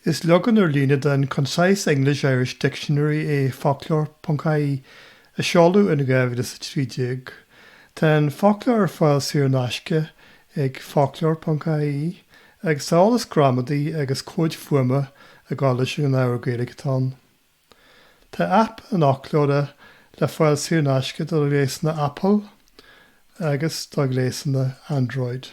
Is leagan ar líne den Concise English-Irish Dictionary é Foclóir.ie, a seoladh in 2013. Tá an foclóir ar fáil saor in aisce ag Foclóir.ie, agus tá eolas gramadaí agus comhaid fuaime ag dul leis an ábhar Gaeilge atá ann. Tá aip an fhoclóra le fáil saor in aisce do ghléasanna Apple agus do ghléasanna Android.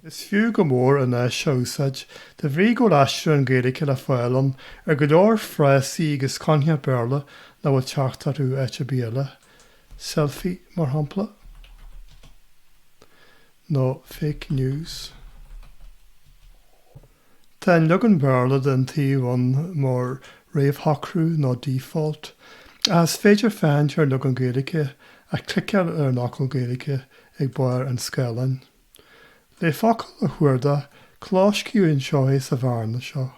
Is fiú go mór an áis seo a úsáid, de bhrí go bhfuil aistriúchán Gaeilge le fáil ann ar go leor frásaí agus coincheapa Béarla nach bhfuil teacht orthu áit ar bith eile, selfie, mar shampla, nó fake news. Tá an leagan Béarla den tsuíomh ann mar réamhshocrú nó default, ach is féidir féachaint ar leagan Gaeilge ach cliceáil ar an fhocal Gaeilge ag barr an scáileáin. Le focal a chuardach, clóscríobh anseo é sa bhearna seo,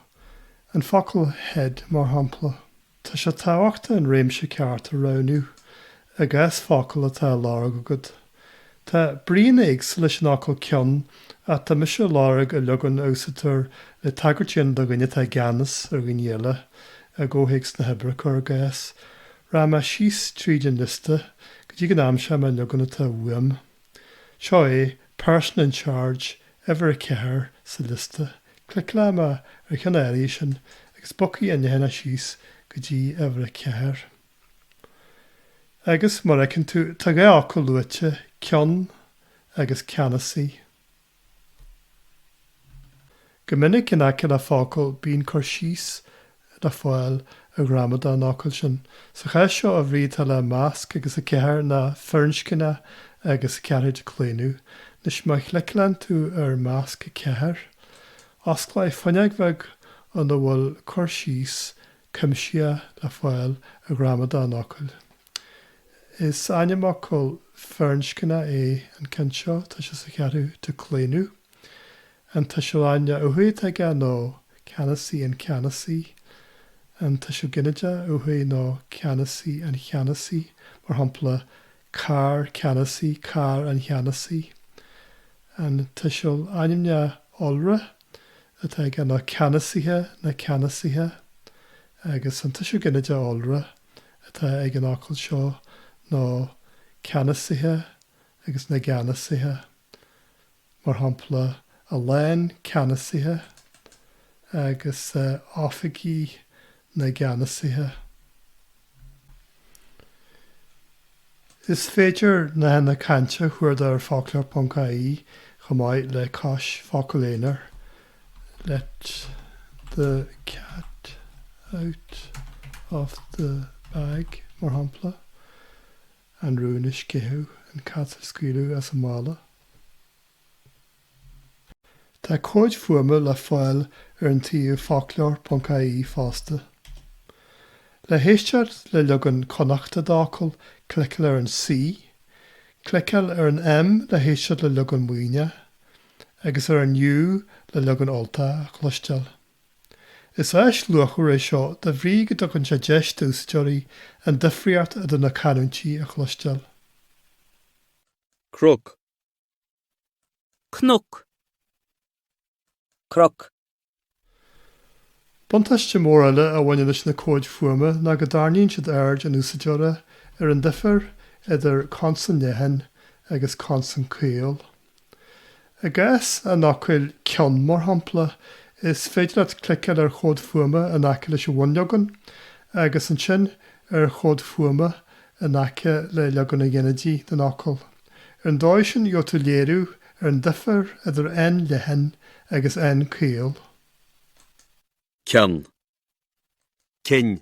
an focal head mar shampla. Tá sé tábhachtach an réimse ceart a roghnú i gcás focal atá á lorg agat. Tá bríonna éagsúla leis an fhocal head ach tá mise ag lorg an leagan a úsáidtear le tagairt a dhéanamh do dhuine atá i gceannas ar dhaoine eile, i gcomhthéacs na hoibre, cuir i gcás. Rachaidh mé síos tríd an liosta go dtí go n-aimseoidh mé an leagan atá uaim. Seo é Person in Charge uimhir a ceathair sa liosta. Cliceálfaidh mé ar an uimhir sin agus bogfaidh an leathanach síos go dtí uimhir a ceathair. Agus, mar fheiceann tú, tá dhá fhocal luaite, ceann agus ceannasaí. Go minic in aice le focal bíonn cur síos le fáil ar ghramadach an fhocail sin. Sa chás seo, an bhrí atá le 'masc' agus 4 ná 'firinscneach' agus 4ú díochlaonadh Anois, má chliceálann tú ar 'masc' 4, osclóidh fuinneog bheag ina bhfuil cur síos cuimsitheach le fáil ar ghramadach an fhocail. Is ainmfhocal firinscneach é an ceann seo, tá sé sa cheathrú díochlaonadh. An tuiseal ainmneach uatha atá aige ná ceannasaí an ceannasaí. An tuiseal ginideach uatha ná ceannasaí an cheannasaí, mar shampla, carr ceannasaí carr an cheannasaí. An tuiseal ainmneach iolra atá aige ná ceannasaithe na ceannasaithe. Agus an tuiseal ginideach iolra. atá ag an fhocal seo ná ceannasaithe agus na gceannasaithe. Mar shampla, a lán ceannasaithe agus oifigí na gceannasaithe. Is féidir nathanna cainte a chuardach ar Foclóir.ie chomh maith le cois focail aonair Let the cat out of the bag, mar shampla, an rún a sceitheadh, an cat a scaoileadh as an mála. Tá comhaid fuaime le fáil ar an tsuíomh foclóir.ie fosta. Le héisteacht le leagan Connachta d'fhocal, cliceáil ar an C, cliceáil ar an M le héisteacht le leagan Muimhneach, agus ar an U le leagan Ultach a chloisteáil. Is áis luachmhar é seo de bhrí go dtugann sé deis d'úsáideoirí an difríocht idir na canúintí a chloisteáil. Croc. Cnoc. Croc, Buntáiste mór eile a bhaineann leis na comhaid fuaime ná go dtarraingíonn siad aird an úsáideora ar an difear idir consan leathan agus consan caol. I gcás an fhocail 'ceann', mar shampla, is féidir leat cliceáil ar chomhad fuaime in aice leis an bhunleagan, agus ansin ar chomhad fuaime in aice le leagan an ghinidigh den fhocal. Ar an dóigh sin gheobhaidh tú léiriú ar an difear idir n leathan agus n caol. ceann. cinn.